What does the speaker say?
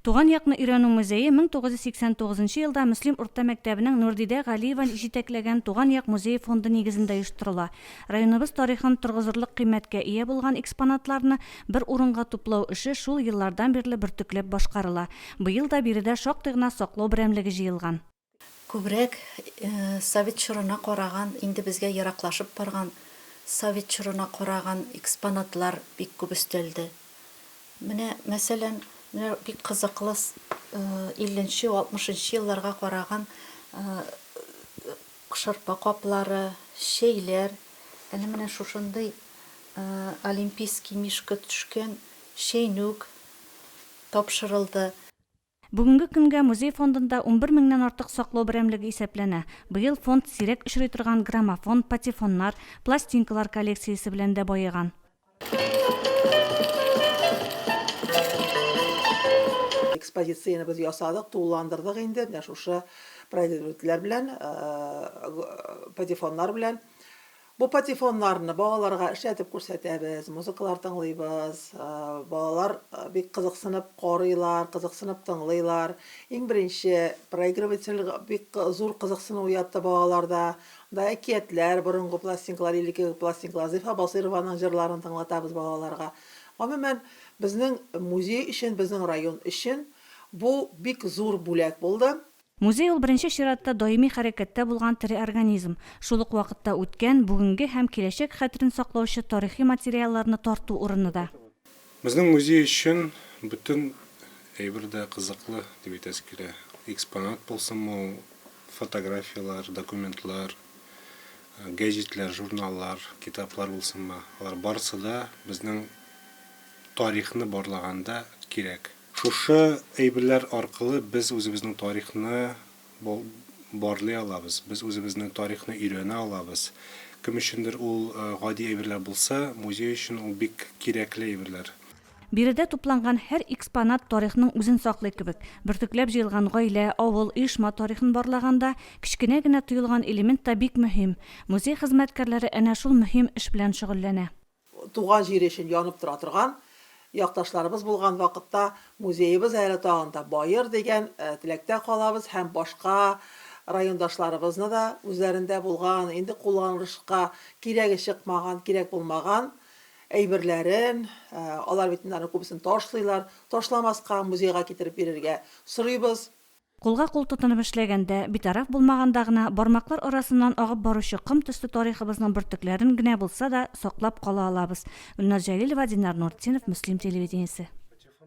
Туган якны өйрәнү музее 1989 елда Мөслим урта мәктәбенең Нурдидә Галиева җитәкләгән Туган як музее фонды нигезендә оештырыла. Районыбыз тарихын торгызырлык кыйммәткә ия булган экспонатларны бер урынга туплау эше шул еллардан бирле бөртекләп башкарыла. Быел да биредә шактый гына саклау берәмлеге җыелган. Күбрәк совет чорына караган, инде безгә ераклашып барган совет чорына караган экспонатлар бик күп өстәлде. Менә, мәсәлән, менә бик кызыклы илленче, алтмышынчы елларга караган шырпы каплары, чәйләр, әле менә шушындый олимпийский мишка төшкән чәйнүк тапшырылды. Бүгенге көнгә музей фондында унбер меңнән артык саклау берәмлеге исәпләнә. Быел фонд сирәк очрый торган граммофон, патефоннар, пластинкалар коллекциясе белән дә баеган. Экспозицияне без ясадык, тулыландырдык инде менә шушы произведительләр белән, патефоннар белән. Бу патефоннарны балаларга эшләтеп күрсәтәбез, музыкалар тыңлыйбыз. Балалар бик кызыксынып карыйлар, кызыксынып тыңлыйлар. Иң беренче проигрыватель бик зур кызыксыну уятты балаларда. Анда әкиятләр, борынгы пластинкалар, элеккеге пластинкалар, Зифа Басыйрованың җырларын тыңлатабыз балаларга. Гомумән, безнең музей өчен, безнең район өчен бу бик зур бүләк булды. Музей ул беренче чиратта даими хәрәкәттә булган тере организм, шул ук вакытта үткән, бүгенге һәм киләчәк хәтерен саклаучы тарихи материалларны тарту урыны да. Безнең музей өчен бөтен әйбер дә кызыклы, дип әйтәсе килә. Экспонат булсынмы ул, фотографияләр, документлар, гәҗитләр, журналлар, китаплар булсынмы, алар барысы да безнең тарихны барлаганда кирәк. Шушы әйберләр аркылы без үзебезнең тарихны барлый алабыз, без үзебезнең тарихны өйрәнә алабыз. Кем өчендер ул гади әйберләр булса, музей өчен ул бик кирәкле әйберләр. Биредә тупланган һәр экспонат тарихның үзен саклый кебек. Бөртекләп җыелган гаилә, авыл, оешма тарихын барлаганда, кечкенә генә тоелган элемент та бик мөһим. Музей хезмәткәрләре әнә шул мөһим эш белән шөгыльләнә. туган җире өчен янып тора торган якташларыбыз булган вакытта музеебыз әле тагын да баер дигән теләктә калабыз һәм башка райондашларыбызны да үзләрендә булган, инде кулланылышка кирәге чыкмаган, кирәк булмаган әйберләрен, алар бит инде аның күбесен ташлыйлар, ташламаска, музейга китереп бирергә сорыйбыз. Кулга-кул тотынып эшләгәндә, битараф булмаганда гына бармаклар арасыннан агып баручы ком төсле тарихыбызның бөртекләрен генә булса да саклап кала алабыз. Гөлназ Җәлилова, Динар Нуртдинов, Мөслим телевидениесе.